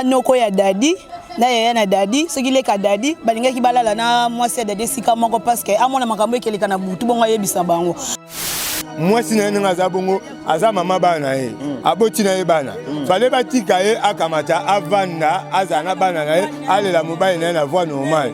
noko ya dadi na yaya na dadi soki leka dadi balingaki balala na mwasi ya dadi esika moko parceke amona makambo ekeleka na butu bongo ayebisa bango mwasi na ye ndenge aza bongo aza mama bana na ye mm. aboti na ye bana mm. fale batika ye akamata avanda azala na bana na ye alela mobali na ye na voi normale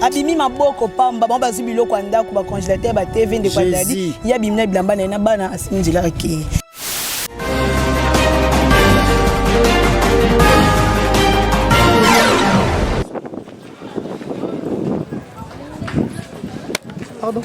abimi maboko pamba bango bazwi biloko ya ndako bacongelateur ba tv ndeko adadi ye abimi na bilamba na ye na bana asimi nzela akei Pardon.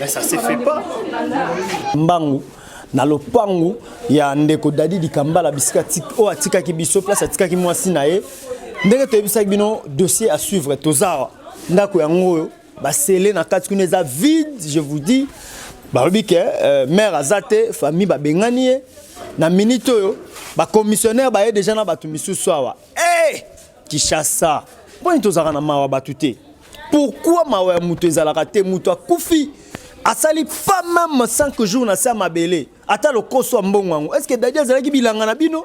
Mais ça se fait pas. Mbangu na lopangu ya ndeko Dadi Dikambala bisika oyo atikaki biso place atikaki mwasi na ye ndenge toyebisaki bino dossier à suivre tozawa ndako yango oyo basele na kati kuna eza vide je vous dis balobi ke euh, mare aza te famille babengani ye na minute oyo bacommissionnaire baye deja na bato misusu awa hey! Eh! Kishasa. Poni tozalaka na mawa batu te. Pourquoi mawa ya mutu ezalaka te mutu akufi asali pas même 5 jours na sa mabele ata lokoso mbongo yango est-ce que dadi azalaki bilanga na bino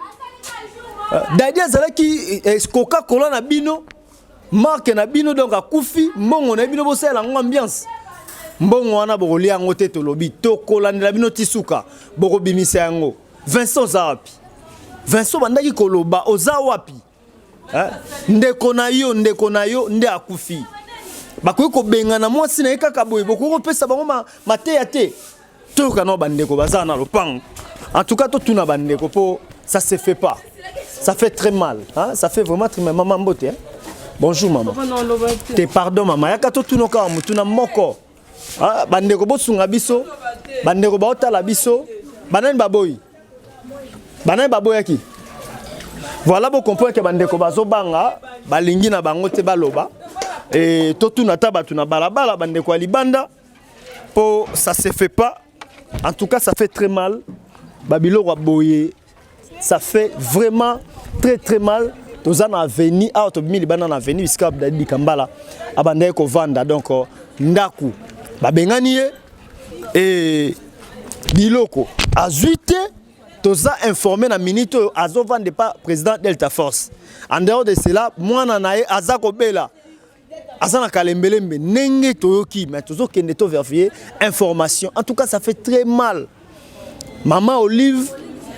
euh, dadi azalaki eh, coca cola na bino marke na bino donc akufi mbongo na bino bosalela yango ambiance mbongo wana bokolia yango te tolobi tokolandela bino ti suka bokobimisa yango vincent oza wapi vincent obandaki koloba oza wapi eh? ndeko na yo ndeko na yo nde akufi bakoki kobengana mwasi na ye kaka boye bokoki kopesa bango mateya te toyoka nao bandeko baza na lopango en tout cas totuna bandeko mpo ça se fait pas ça fait très mal hein? ça fait vraiment très mal mama mbote hein? bonjour mama te pardon mama yaka totuna kaka motuna moko Ah, bandeko bosunga biso bandeko baotala biso banani baboyi banani baboyaki voilà bocomprendre ke bandeko bazobanga balingi na bango te baloba e, totuna ata bato na balabala bandeko ya libanda mpo ça se fait pas en tout cas ça fait très mal babiloko ya boye Ça fait vraiment très très mal. toza na avenue awa tobimi libanda na avenue bisika abdali bikambala abandaki kovanda donc euh, ndako babengani ye e biloko azwi te toza informe na minute oyo azovanda epa président delta force en dehors de cela mwana na ye aza kobela aza na kalembelembe ndenge toyoki mais tozokende to vérifier information en tout cas ça fait très mal mama olive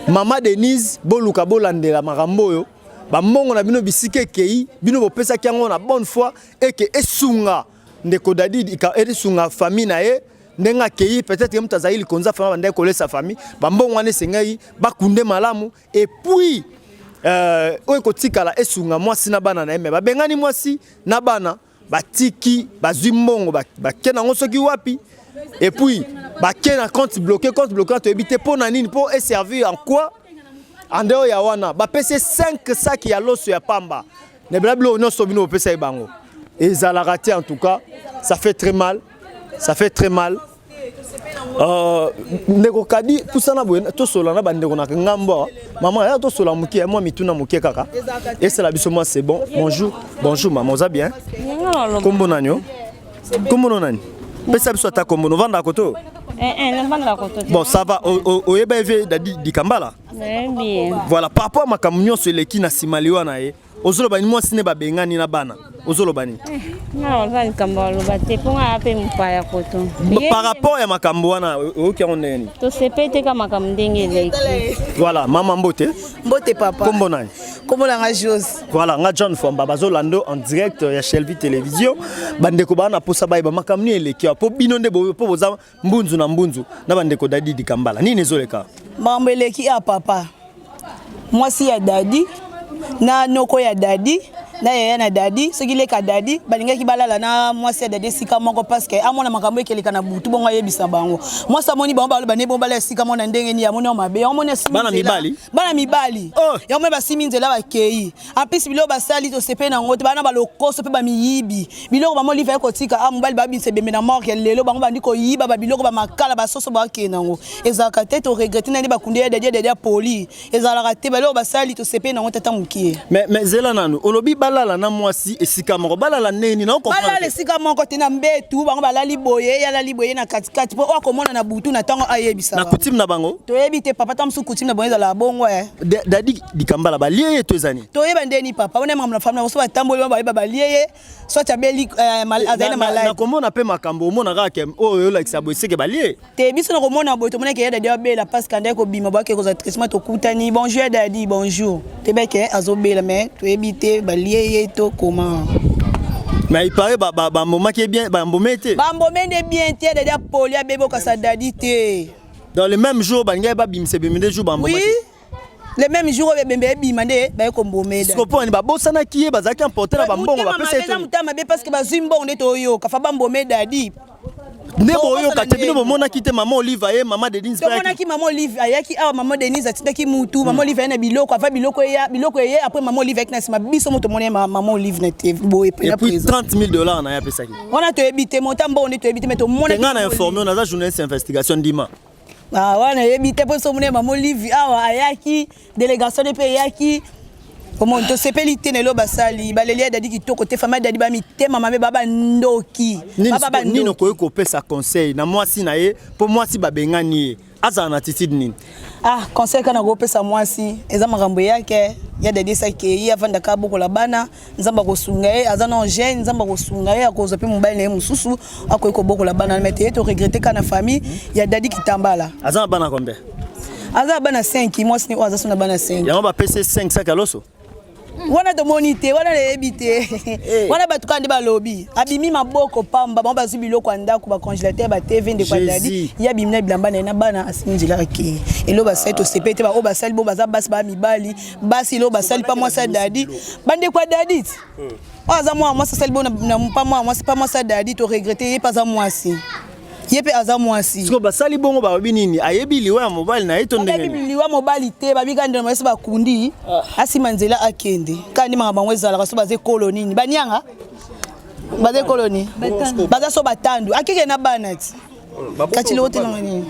mama denise boluka bolandela makambo oyo bambongo na bino bisika ekei bino bopesaki yango na bonne foi eke esunga ndeko dadid esunga famille na ye ndenge akei peut-être ye moto azali likonza fama bandaki kolesa famille bambongo wana esengeli bakunde malamu et puis euh, oyo ekotikala esunga mwasi na bana na ye me babengani mwasi na bana batiki bazwi mbongo bake nango soki wapi et puis bake na compte bloqué compte bloqué toyebi te mpo na nini mpo eservir en quoi en dehors ya wana bapesi 5 saki ya loso ya pamba na bela biloko nyonso bino bopesa ye bango ezalaka te en tout cas ça fait très mal ça fait très mal euh, ndeko kadi pusana boye tosola na bandeko na ngambo mama ya tosola moke ya mwa mituna moke kaka esala biso mwa c'est bon bonjour bonjour mama oza bien kombo nani o kombo no nani pesa biso ata kombo novandaka koto eh, eh, bon ça va oyeba eve dadi dikambala Voilà, par rapport à makambo nyonso eleki na nsima liwa na ye ozoloba ni mwasi ne babengani na bana ozoloba nini eh, likambo aloba te mpo ngaa mpe mopaya koto par rapport ya makambo wana oyoki yango ndenge nini tosepeli te ka makambo ndenge eleki voilà mama mbote mbote papa kombo nani kombo na nga jose voilà nga john fwamba bazolanda en direct ya shelvi télévision bandeko baa na mposa bayeba makambo nini eleki mpo bino nde mpo boza Mbunzu na mbunzu na bandeko Dadi Dikambala, nini ezoleka? Makambo eleki ya papa, mwasi ya Dadi na noko ya Dadi na yaya na Dadi, soki leka Dadi balingaki balala na mwasi ya Dadi esika moko paske amona makambo ekeleka na butu, bongo ayebisa bango. Mwasi amoni bango baloba ne bongo balala esika moko na ndenge nini, amoni yango mabe, yango amoni asimi bana mibali, bana mibali oh. yango moni basimi nzela bakei, en plus biloko basali tosepeli na yango te bana balokoso mpe bamiyibi biloko bango liva ekotika a ah, mobali babimisa ebembe na morke lelo bango bandi koyiba babiloko bamakala basoso bakende yango ezalaka te toregrete nani bakundi ya dadia dadia poli ezalaka te biloko basali tosepeli na yango tata mokie mais zela nanu olobi balala na mwasi esika moko balala neni naobalala esika moko te na mbetu bango balali boye yalali boye na katikati mpo oyo akomona na butu na ntango ayebisa na kutime na bango toyebi te papa ta mosusu kutime na bango ezalaka bongo eh. dadi likambala balie ye to eza nini toyeba ndeni papa wana makambo na famille yango so batamboli wana bayeba balie ye soit abeli eh, eh, azali na maladi nakomona mpe makambo omona kaka oyo oh, oyolakisa boye seke balie te biso nakomona boye tomonaki ya dadi abela parce que andaki kobima boyake kozala traitement tokutani bonjour ya dadi bonjour tebeke eh, azobela mais toyebi te balie ye to koma mais il paraît bambomaki bien bambome te bambome nde bien te dadi apoli abebi okasa dadi te dans le même jour balingai babimisa bimide jour bambomaki oui le même jour oyo ebembe ebima nde baye kombomela siko mpo nani babosanaki ye bazalaki emporte na bambongo bapesa motema mabe parce que bazwi mbongo nde toyoka fa bambome dadi nde boyoka te bino bomonaki te mama olive aye mama denise tomonaki mama olive ayaki awa mama denise atindaki mutu mama hmm. olive aye na biloko ava biloko eya biloko eye après mama olive ayaki na nsima biso moto omoni mama olive na te boye puis 30 000 dollars na ye apesaki wana toyebi te monta mbongo nde toyebi te me tomonaki ngai na informe naza journaliste investigation ndima Ah, wana nayebi te mpo so mona mama olivi awa ayaki delegation mpe eyaki omoni tosepeli te na elo basali baleli ya dadi kitoko te fama dadi bamitema mabe babandoki nini okoki kopesa conseil na mwasi na ye mpo mwasi babengani ye azala na attitude nini ah conseil kana kopesa mwasi eza makambo eyake ya dadi esaki ye avandaka abokola bana nzambe akosunga ye aza na jeune nzambe akosunga ye akozwa mpe mobali na ye mosusu akoki kobokola bana me teye toregrete ka na famille ya dadi kitambala aza na bana combien aza na bana 5 mwasi ne oyo aza so na bana 5 yango bapesi 5 saki ya loso wana tomoni te wana nayebi te eh. wana bato kaka nde balobi abimi maboko pamba bango bazwi biloko ya ndako bacongélateur batv ndeko adadi ye abimi na bilamba na ye na bana asimbi nzela ake elo basali tosepeli te baoyo basali bo baza basi baa mibali basi leo basali pa mwasi ya dadi bandeko ya dadi ti hmm. oyo aza mwana mwasi asali bo na pa mwana mwasi pa mwasi ya dadi toregrete ye mpe aza mwasi ye mpe aza mwasi siko basali bongo bayebi nini ayebi liwa ya mobali na ye to ndengeyebi liwa mobali te babika ndelo mayesi bakundi ah. asima nzela akende kaka nde makambo yango ezalaka so baza ekolo nini banianga baza ekolo nini baza so batandu akeke na bana ti kati leo telanga nini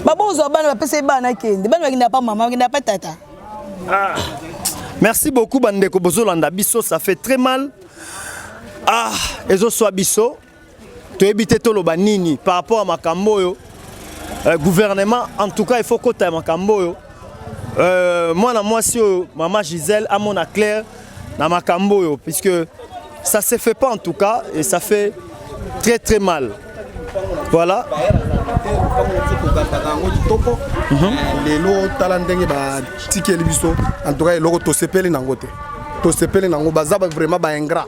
babozwa bana bapesa ye bana akende bana bakendaka pa mama bakendaka pa tata ah. merci beaucoup bandeko bozolanda biso ça fait très mal ah ezoswa biso toyebi te toloba nini par rapport ya makambo oyo euh, gouvernement en tout cas il faut kota ya makambo oyo euh, mwana mwasi oyo mama gisele amona claire na makambo oyo puisque ça se fait pas en tout cas et ça fait très très mal voilà mhm. lelo tala ndenge batikeli biso en tout cas eloko tosepeli nango te tosepeli nango baza vraiment baingra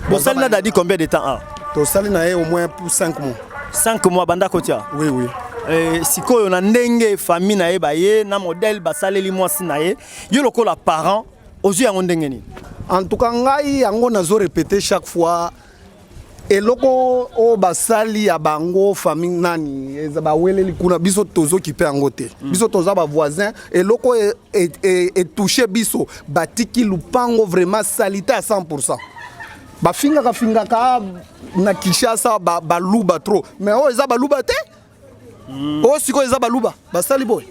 bosali na dadi combien de temps a ah? tosali na ye au moins pour 5 mois 5 mois banda kotia oui oui Eh, sikoyo na ndenge famille na ye baye na modèle basaleli mwasi na ye yo lokola parent ozwi yango ndenge nini en tout cas ngai yango nazo repete chaque fois eloko oyo basali ya bango famille nani eza baweleli kuna biso tozokipe yango te mm. biso toza bavoisin eloko etouche e, e, e biso batiki lupango vraiment salite ya 100 pourcent bafingaka fingaka na kinshasa baluba ba trop mais oyo eza baluba te oyo sikoyo eza baluba basali boye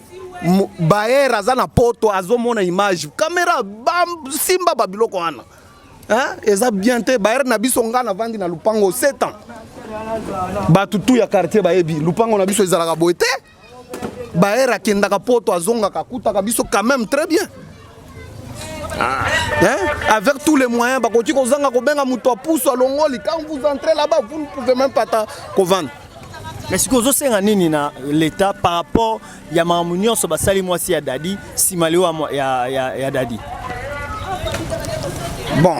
baere aza na poto azomona image kamera basimba babiloko wana eza bien te baere na biso ngai navandi na lupango 7 ans bato tu ya quartier bayebi lupango na biso ezalaka boye te baere akendaka poto azongaka akutaka biso quand même très bien Ah. Hein? Avec tous les moyens, bah, quand kozanga kobenga moto pousse à longoli, quand vous entrez là-bas, vous ne pouvez même pas vendre. Mais ce que vous avez nini na l'État par rapport ya mamu nyonso basali mwasi ya dadi sima leo ya, ya, ya dadi bon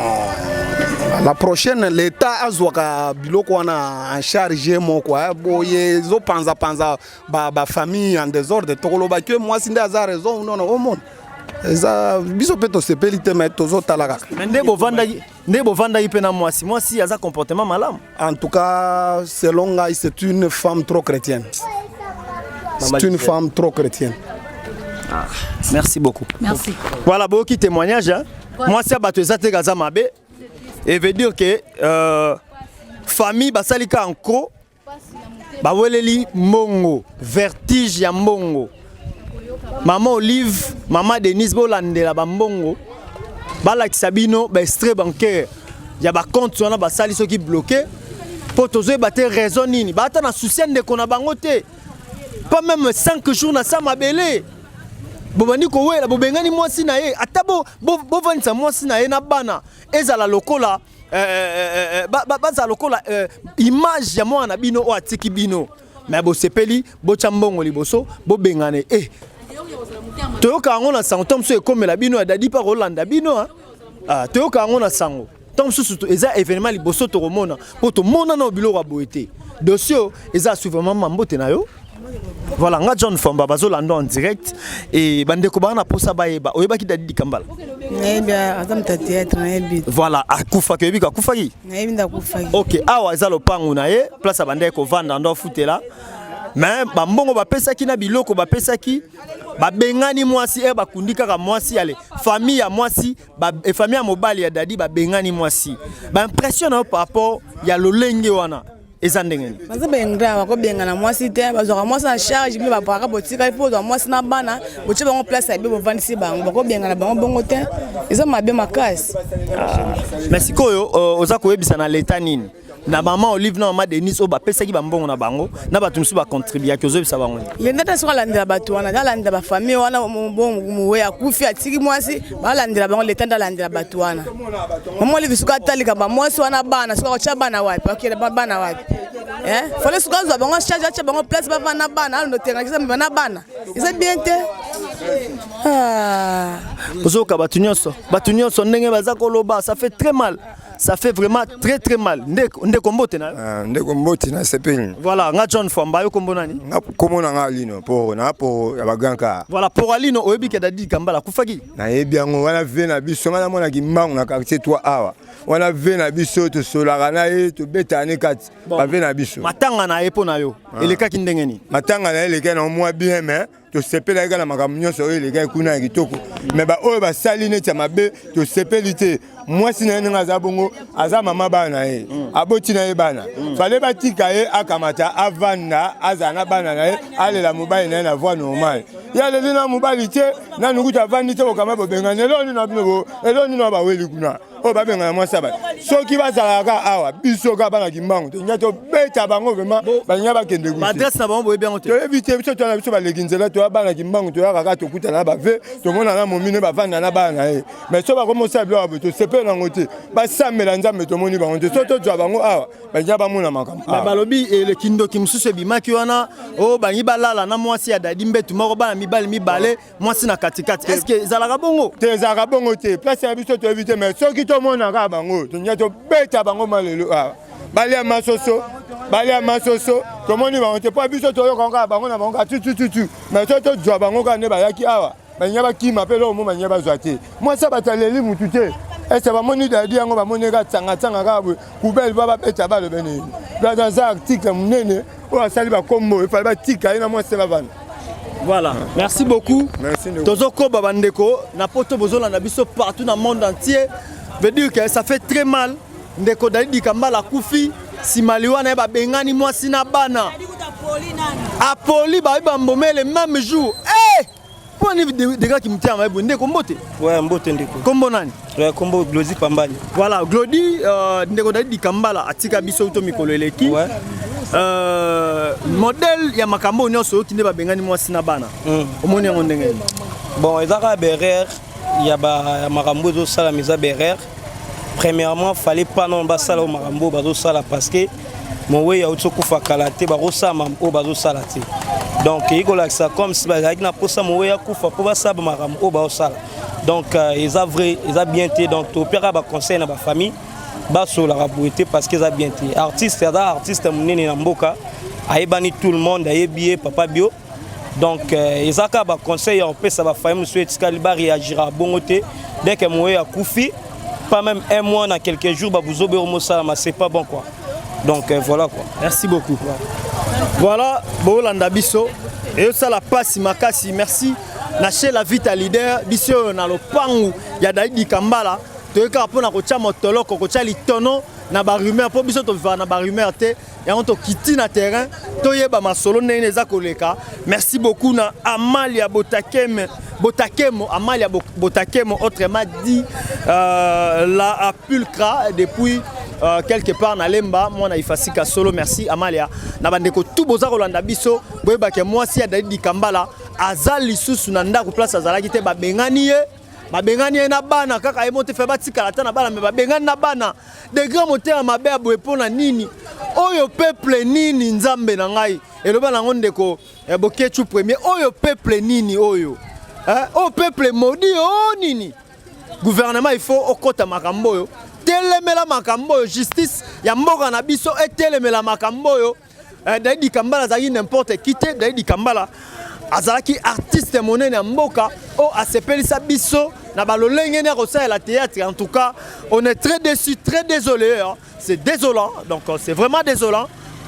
la prochaine l'État azwaka biloko wana en charge moko boye ezopanzapanza panza, ba ba famille en désordre tokoloba que mwasi nde aza raison ou non au monde eza biso mpe tosepeli te mai tozotala kaka nde bovandaki nde bovandaki mpe na mwasi mwasi aza comportement malamu en tout cas selon ngai c'est une femme trop chrétienne c'est une femme trop chrétienne ah, merci beaucoup merci voilà boyoki témoignage hein? mwasi ya bato eza te kaza mabe et veut dire que euh, famille basali ka en croc baweleli mbongo vertige ya mbongo mama olive mama denise bolandela bambongo balakisa bino baextrait bancaire ya bacompte wana basali soki bloke mpo tozoyeba te raison nini baata na susi ya ndeko na bango te pas meme 5 jours na sa mabele bobandi kowela bobengani mwasi na ye ata bovandisa bo, bo mwasi na ye na bana ezala lokola eh, eh, eh, ba, ba, baza lokola eh, image ya mwana na bino oyo atiki bino me bosepeli botya mbongo liboso bobengane eh. toyoka yango na sango ntango mosusu ekomela bino ya dadi mpe akolanda bino ah. ah, toyoka yango na sango ntango mosusu eza événement liboso tokomona mpo tomonana o biloko ya boye te dosio eza asuvamama mbote na yo Voilà, nga John Famba bazolanda en direct et bandeko bana na posa bayeba oyebaki Dadi Dikambala. Nayebi aza moto ya théâtre nayebi. Voilà, akufaki oyebi akufaki? Nayebi nda akufaki. OK, awa eza lopango na ye, place abandaki kovanda ndo afutela. Mais bambongo bapesaki na biloko bapesaki babengani mwasi e bakundi kaka mwasi ale famille ya mwasi eh, famille ya mobali ya dadi babengani mwasi baimpression na yo par rapport ya lolenge wana eza ndenge nini baza baingra bakobengana mwasi te bazwaka mwasi na charge mpe bapaka botikali mpo ozwa mwasi na bana botye bango place ya be bovandisi bango bakobengana bango bongo te eza mabe makasi ah. me sikoyo euh, oza koyebisa na leta nini na mama olive na mama denise oyo bapesaki bambongo na bango na bato mosusu bacontribuaki ozoyebisa bango nini lenda ta soki alandela bato wana alandela bafamille wana mowe akufi atiki mwasi balandela bango leta nde alandela bato wana omoni lisuka ata likambo mwasi wana bana soki akotya bana wapi akende bana wapi eh? fale soki azwa bango charge atya bango place bavanda bana alondo tengakisa mema na bana eza bien te ah. ozoyoka bato nyonso bato nyonso ndenge baza koloba ça fait très mal Ça fait vraiment très très mal. Ndeko ndeko mbote na. Ah, ndeko mbote na sepeni. Voilà, nga John Famba yo kombo nani? Nga kombo na nga Alino po na po ya baganka. Voilà, pour Alino oyebi ke dadi kambala kufaki. Na yebi yango wana vie na biso nga na mwana kimbangu na quartier 3 awa. Wana vie na biso to solaka na ye to beta ne kati. Ba vie na biso. Matanga na ye po na yo. Ah. Elekaki ndenge ni? Matanga na ye elekaki na mwa bien mais tosepelaki kaka na makambo nyonso oyo elekaki kuna ya kitoko me baoyo basali neti ya mabe tosepeli te mwasi na ye ndenge aza bongo aza mama bana na ye mm. aboti na ye bana mm. fale batika ye akamata avanda azala na bana na ye alela mobali na ye na voi normale ye aleli na mobali te nanu kutu avandi te kokama bobengani eloo nino bino eloo nino baweli kuna oyo babenga na mwasi ya bato soki bazalaka awa biso kaka bana kimbangu tolinga tobeta bango vraimen balinga bakende toyebi te biso toyana biso baleki nzela toya bana kimbangu toyaka kaka tokutana na bave tomona na momine bavanda na bana na ye mais so bakomi osala biloko boye tosepele nango te basambela nzambe tomoni bango te so tozwa bango awa balinga bamona makambo balobi elekindoki mosusu ebimaki wana oyo oh, balingi balala na mwasi ya dadi mbetu moko bana mibali mibale mwasi na katikati eske ezalaka bongo te ezalaka bongo te place na biso toyebi te mai soki tomonaka bango tonya tobeta bango malelo awa ah. balia masoso balia masoso tomoni bango te mpo biso toyoka kaka bango na bango kaka tutututu mai so tozwa bango kaka nde bayaki awa banya bakima mpe eloko mo banya bazwa te mwasi bataleli motu te ese bamoni dadi yango bamoni kaka tsangatsanga kaka boye Kubel ba babeta balo bene. Là dans un article munene oyo asali ba kombo efali batika ye na mwasi na bana. Voilà. Merci beaucoup. Merci. Tozo koba bandeko na poto bozolanda biso partout na monde entier. Veut dire que ça fait très mal. Ndeko Dalidi Kambala kufi simali wana ye babengani mwasi na bana. Apoli bayebi bambomele même jour. Hey! Mpo nini Degrad Kimutema Mabe ndeko mbote? Ouais, mbote ndeko. Kombo nani? Ouais, kombo Glody Pambani. Voilà, Glody euh, ndeko David Dikambala atika biso to mikolo eleki. Ouais. Euh, modèle ya makambo nyonso oyoki nde babengani mwasi na bana. Mm. Omoni yango ndenge nini? Bon, eza kaka berere ya makambo ezosalama eza berere premièrement fallait pas non basala oyo makambo oyo bazosala parce que mowei auti okufa kala te bakosala makambo oyo bazosala te donc eyi kolakisa comme si bazalaki na mposa mowei akufa mpo basala makambo oyo baosala donc euh, eza vrai eza bien te donc topiaka baconseil na bafamille basololaka boye te parce que eza bien te artiste aza artiste monene na mboka ayebani tout le monde ayebi ye papa bio donc euh, eza kaka baconseil ya kopesa bafaye mosusu etikali bareagira bongo te dès que moye akufi pas même un mois na quelques jours babuzobe oyo mosalama c'est pas bon quoi donc euh, voilà quoi merci beaucoup voilà boolanda biso eyosala mpasi makasi merci na chez la vita leader biso oyo na lopangu ya daidi kambala toyekaka mpo na kotya motoloko kotya litono na barumeur mpo biso tolivaka na barumeur te yango tokiti na terrain toyeba masolo ndenge nini eza koleka merci beaucoup na amalia botakeme botakemo amalia botakemo autrement dit euh, la pulcra depuis Euh, quelque part na lemba mwana ifasika solo merci amalia na bandeko tu boza kolanda biso boyebake mwasi ya dalidi kambala aza lisusu na ndako place azalaki te babengani ye babengani ye na bana kaka ye moto fe batikala ata na bana me babengani na bana Degré motema mabe ya boye mpo na nini? Oyo peuple nini nzambe na ngai? Eloba nango ndeko eh, Boketshu premier. Oyo peuple nini oyo? Eh, oyo peuple maudit oh nini? Gouvernement il faut okota makambo oyo. Telemela makambo oyo, justice ya mboka na biso etelemela makambo oyo. Eh, Daidi Kambala azalaki n'importe qui te. Daidi Kambala azalaki artiste monene ya mboka oyo asepelisa biso na balolenge nde akosalela théâtre en tout cas on est très déçu très désolé hein. c'est désolant donc euh, c'est vraiment désolant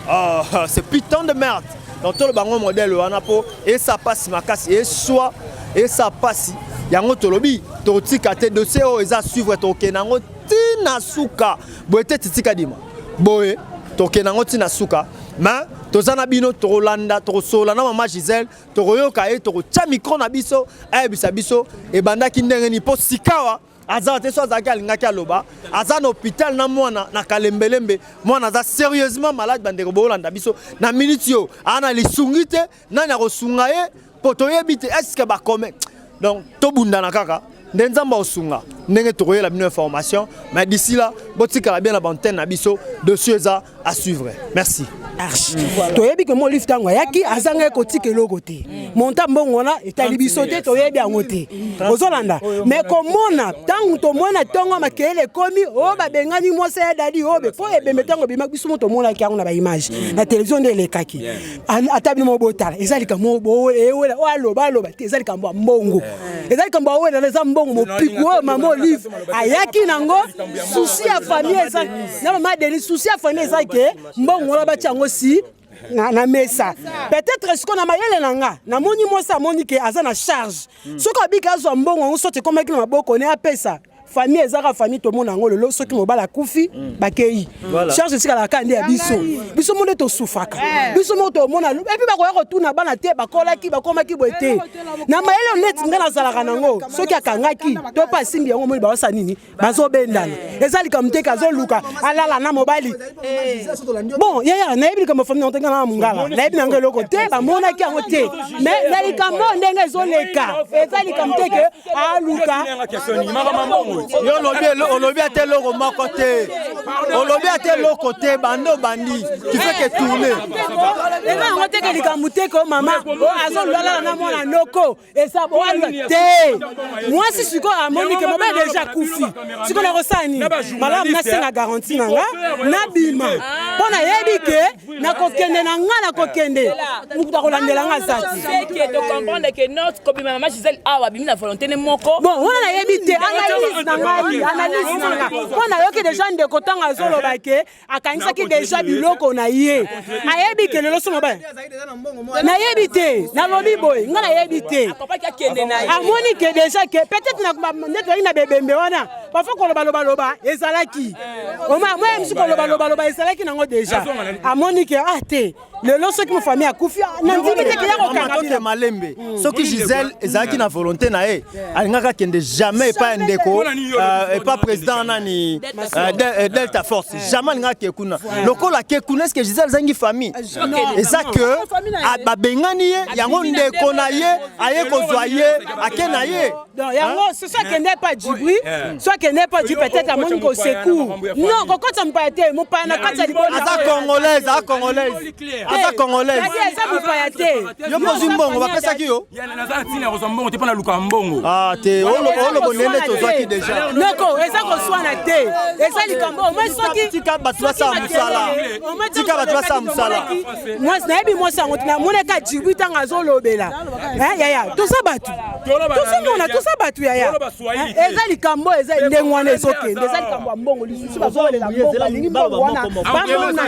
euh, c'est putain de merde donc toloba yango modèle wana mpo esa mpasi makasi eswa esa mpasi yango tolobi tokotika te dossier oyo eza suivre tokokende yango ntina suka boye te titika dima boye tokende yango ntina suka mais toza na bino tokolanda tokosolola na mama gisele tokoyoka ye tokotya mikro na biso ayebisa biso ebandaki ndenge nini mpo sikawa aza te so azalaki alingaki aloba aza na hôpital na mwana na kalembelembe mwana aza sérieusement malade bandeko bokolanda biso na minute yo ana lisungi te nani akosunga ye mpo toyebi te eske bakome donc tobundana kaka nde nzambe akosunga ndenge tokoyela bino information mais d'ici là botikala bien na bantene na biso dossier eza à suivre merci arche mm. toyebi ke molif ntango ayaki azanga ye kotika eloko te mm. monta mbongo wana etali biso te toyebi yango te mm. ozolanda me komona ntango tomona ntongo makeyele ekomi o oh, babengani mwasi ya dadi obe oh, mpo ebembe ntango ebemaki biso mo tomonaki yango na baimage na televizio nde elekaki ata bino moko botala eza likambo ewela oyo aloba aloba te eza likambo ya mbongo eh. eza likambo awelana eza mbongo mopiku oyo mama olive ayaki nango susi ya famille eza na mama denis susi ya famille eza ke mbongo wana batya yango si na, na mesa peut-être siko na mayele na nga namoni mwasi amoni ke aza na charge hmm. soki abiki azwa mbongo yango soki ekomaki na maboko ne apesa famille eza kaka famille tomona yango lelo soki mobali akufi mm. bakei mm. charge etikala kaka nde ya biso biso moko nde tosufaka eh. biso moko tomona epuis bakoya kotuna bana te bakolaki bakomaki boye te na mayele oneti ngai nazalaka nango soki akangaki to mpe asimbi yango omoni baosa nini bazobendana eh. eza likambo te kazoluka alala na mobali eh. bon yaya nayebi likambo famille yango te ngai na mongala nayebi nango eloko te bamonaki yango te mais na likambo ndenge ezoleka eza likambo te ke aluka olobi ata eloko moko te olobi ata eloko te bando bandi kifeke tourne eza yango teke likambo teke o mama azolulala na mwana noko eza boalwa te mwasi sikoyo amoni ke mobali deja akufi sikoyo nakosala nini malamu nasenga garanti na nga nabima mpo nayebi ke nakokende na nga nakokende mokuta kolandela nga azatike tocomprendre ke not kobima na ma gisele awa abimi na volonté ne moko bon wana nayebi te analyse na ngai analyse na nga mpo nayoki deja ndeko ntango azoloba ke akanisaki deja biloko na ye ayebi ke lelo somo ba nayebi te nalobi boye nga nayebi te amoni ke deja ke peut-être nde toyaki na bebembe wana parfois kolobalobaloba ezalaki omaya moya misu kolobalobaloba ezalaki nango deja amoni ke ah te lelo soki mofamille akufi ah, nandimi te keya kokanga malembe hmm. soki gisele ezalaki na volonté na ye alingaka kende jamais epai ya ndeko euh, epai président nani euh, euh, delta force jamais alingaka ke kuna lokola ke kuna eske gisele ezangi famille ah, eza ke ah, babengani ye yango ndeko na ye aye kozwa ye ake na ye Donc, yango hein? soki akende epa jibri soki akende epa jibri peut-être amoni kosecour non kokota mopaya te mopaya na kati ya libongo aza congolaise aza congolaise aza congolaise aza mopaya te yo kozwi mbongo bapesaki yo naza na ntina ya kozwa mbongo te mpo naluka mbongo ah, te olobo nene tozwaki deja noko eza koswana te eza likambo omoi sokitika bato basala mosala tika bato basala mosala mwasi nayebi mwasi yango namonaka jibri ntango azolobela yaya toza bato tosengi wana toza bato yaya eh, eza likambo eza ndenge wana ezokende eza likambo ya mbongo lisusu bazowelela mbongo balingi mbongo wana bamona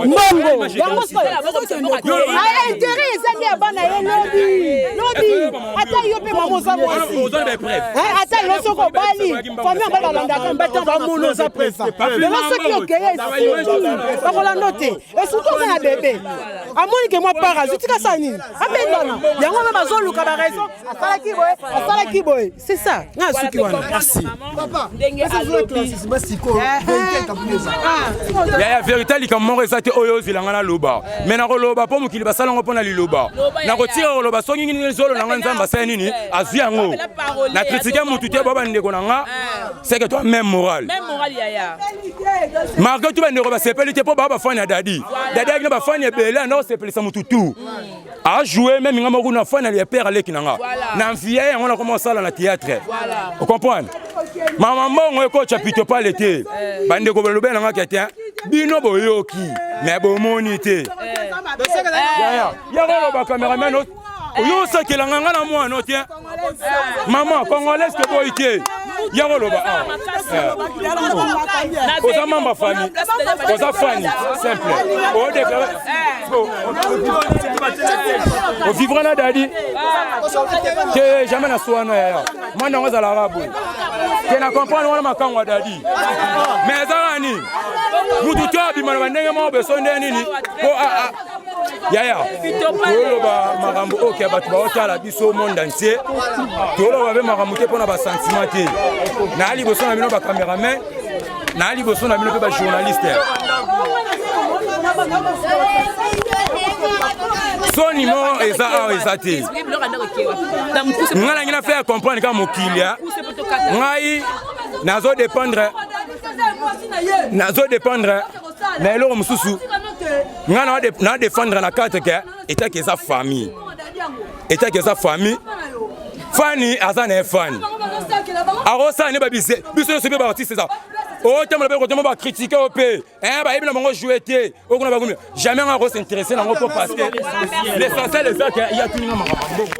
mbongo yango soyointere ah, eza nde ya bana ye lobi lobi ata yo mpe mama oza mwasi eh, ata yo soki obali fami yango balandaka mbata bamona oza presa lelo soki okeye bakolanda te esuki oza na bebe amoni ke mwa para azutika sa nini abengana yango mpe bazoluka baraison asalaki boye asalaki boye c'est ça nga asuki wana merci yaya verité likambo moko eza te oyo ozwila nga naloba mai nakoloba mpo mokili basala yango mpo na liloba nakotika koloba soki nini zolo na nga nzambe asala nini azwi yango na kritike motu te bwa bandeko na nga C'est que toi même moral. Même moral yaya. Marco tu bandeko basepeli te mpo baa bafani ya dadi dadi ayaki na bafani ebele anda kosepelisa motu tu ajoue meme nga moko na fani ya père aleki na nga na mfiya yango nakoma kosala na théâtre okomprendre mama mbongo ekotya pito pale te eh. bandeko balobela na nga ke te bino boyoki me bomoni te eh. yaya yako loba cameraman oyo osakela nga nga na mwana no te mama congolaise te boyi te ya koloba awa oza mamba fani oza fani simple odeklare ovivra na dadi te jamais na suana yaya mwana yango azalaka boye te na comprendre wana makango ya dadi mais ezalaka nini mutu to abima na bandenge moko beso nde nini po yaya toloba makambo oyo ya bato baotala biso monde entier toloba mpe makambo te mpo na basentiment te naa liboso na bino bacameraman naa liboso na bino mpe bajournaliste soni moko eza awa eza te ngai nangi na faire comprendre kaka mokili ngai nazo dépendre nazo dépendre na eloko mosusu ngai na défendre na carte ke etaki eza famille etaki eza famille fani aza na ye fani akosala nde babise biso nyonso mpe baartiste eza otambola mpe kotoma bakritike yo mpe eh, bayebi na bango joue te okuna bakomi jamais ngai akosinteresse nango mpo parce que l'essentiel eza ke yatuninga makambo